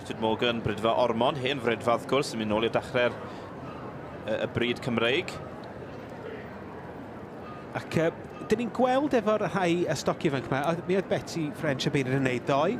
Richard Morgan, Brydfa Ormond, hen frydfa wrth gwrs, yn mynd nôl i'r dachrau'r y bryd Cymreig. Ac uh, dyn ni'n gweld efo'r rhai y stoc ifanc yma, oedd, mi oedd Betty French y beiryd yn neud ddoe.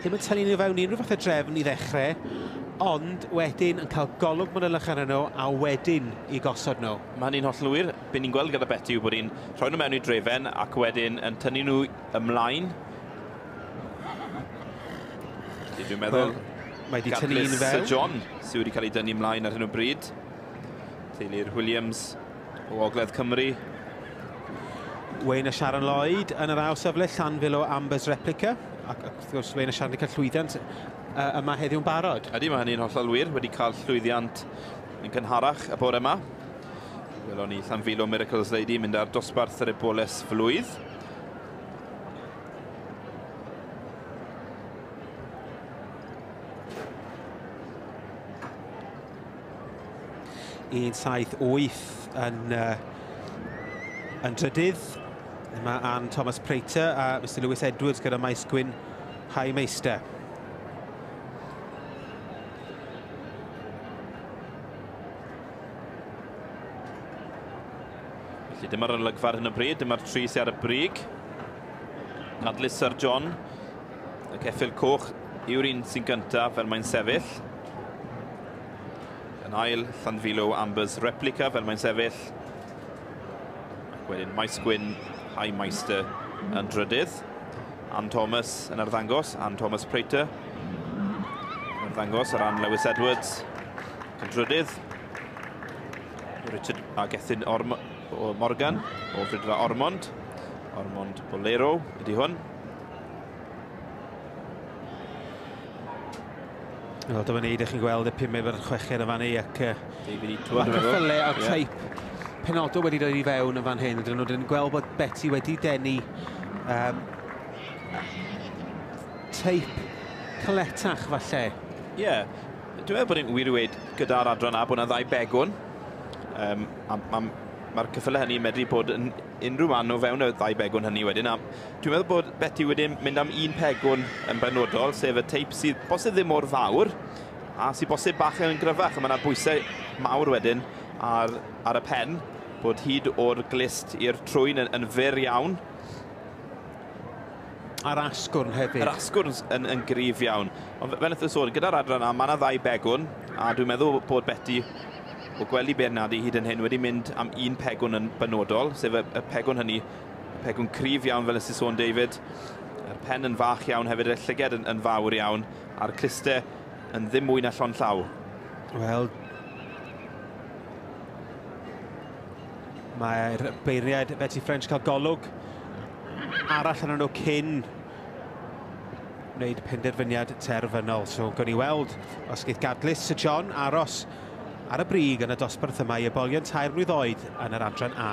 Ddim yn tynnu nhw fewn unrhyw fath o drefn i ddechrau, ond wedyn yn cael golwg manylion nhw a wedyn i gosod nhw. Mae'n un holl lwyr. Be ni'n gweld gyda Beti yw bod hi'n rhoi nhw mewn i'r drefen ac wedyn yn tynnu nhw ymlaen. Felly dwi'n meddwl... Well, mae wedi tynnu un fel. Sir John sydd wedi cael ei dynnu ymlaen ar hyn o bryd. Teulu'r Williams o Ogledd Cymru. Wayne a Sharon Lloyd yn yr ail safle, Llanfil o Amber's Replica. Ac wrth gwrs, Wayne a Sharon wedi cael llwyddiant yma heddiw'n barod. Ydy, mae hynny'n hollol wir. Wedi cael llwyddiant yn cynharach y bore yma. Welon ni Llanfilo Miracles Lady mynd ar dosbarth yr eboles flwydd. Un saith wyth yn, uh, yn drydydd. Yma Anne Thomas Prater a Mr Lewis Edwards gyda Maes Gwyn High Meister. Felly dyma'r olygfa ar hyn o bryd, dyma'r tri sydd ar y brig. Nadluser John, y ceffil coch yw'r un sy'n gyntaf fel mae'n sefyll. Yn ail, Llanfilo Ambers Replica fel mae'n sefyll. Ac wedyn Maes Gwyn, High Meister yn drydydd. Ann Thomas yn arddangos, Ann Thomas Prater. Mae'n ddangos ar ran Lewis Edwards. Cydrydydd. Richard a Gethin Orm o Morgan o Frydfa Ormond. Ormond Bolero ydy hwn. Wel, dyma ni, ydych chi'n gweld y pimau fel chweched yn fan ei ac... David Itwa. Ac cyffylle a teip penodol wedi dod i fewn yn fan hyn. Ydyn nhw'n gweld bod Betty wedi denu um, teip caletach falle. Ie, yeah. dwi'n meddwl bod e'n wir i weid gyda'r adran A bod yna ddau begwn. Um, Mae'r ma, ma cyffyle hynny yn medru bod yn unrhyw man o fewn y ddau begwn hynny wedyn. A dwi'n meddwl bod Betty wedi mynd am un pegwn yn benodol, sef y teip sydd bosib ddim mor fawr, a sydd bosib bach yn gryfach, a mae yna bwysau mawr wedyn ar, ar y pen, bod hyd o'r glist i'r trwyn yn, yn fyr iawn, A'r asgwrn hefyd. Yr asgwrn yn, yn gryf iawn. Ond fe wnaeth sôn, gyda'r adran yna, mae yna ddau begwn, a dwi'n meddwl bod Betty, o gwely Bernardi hyd yn hyn, wedi mynd am un pegwn yn benodol, sef y, y pegwn hynny, y pegwn cryf iawn fel ysdi sôn David, a'r pen yn fach iawn hefyd, y llyged yn, yn fawr iawn, a'r cluste yn ddim mwy na llon llaw. Wel, mae'r beiriaid Betty French cael golwg arall yn nhw cyn wneud penderfyniad terfynol. So, gawn ni weld os geith gadlys Sir John aros ar y brig yn y dosbarth yma i ybolion tair mlwydd oed yn yr adran A.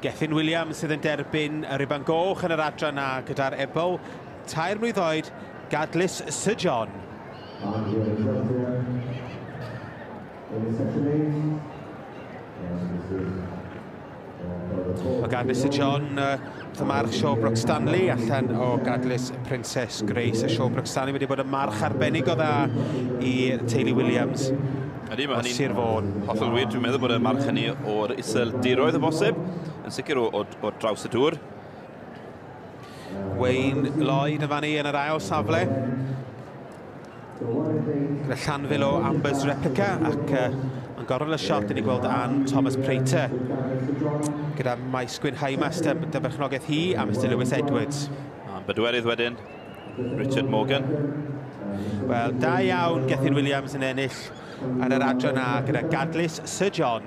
Gethin Williams sydd yn derbyn y riban goch yn yr adran na gyda'r ebol tair mlwydd oed Gadlis Sir John. Yn y sesiwn 8, Mae gan Mister John uh, thymarch Shawbrook Stanley allan o gadlys Princess Grace. A Shawbrook Stanley wedi bod yn march arbennig o dda i teulu Williams. Ydy, mae hynny'n... Sir Fôn. Hollol wir, dwi'n meddwl bod y march hynny o'r isel diroedd o bosib, yn sicr o, o, o draws y dŵr. Wayne Lloyd yn fan i yn yr ail safle. Gyda llanfil o Amber's Replica ac uh, yn gorol y siot, ni gweld Anne Thomas Prater. Gyda Maes Gwyn Haimas, dy, dy berchnogaeth hi, a Mr Lewis Edwards. A'n bedwerydd wedyn, Richard Morgan. Wel, da iawn Gethin Williams yn ennill ar yr adran na gyda gadlys Sir John.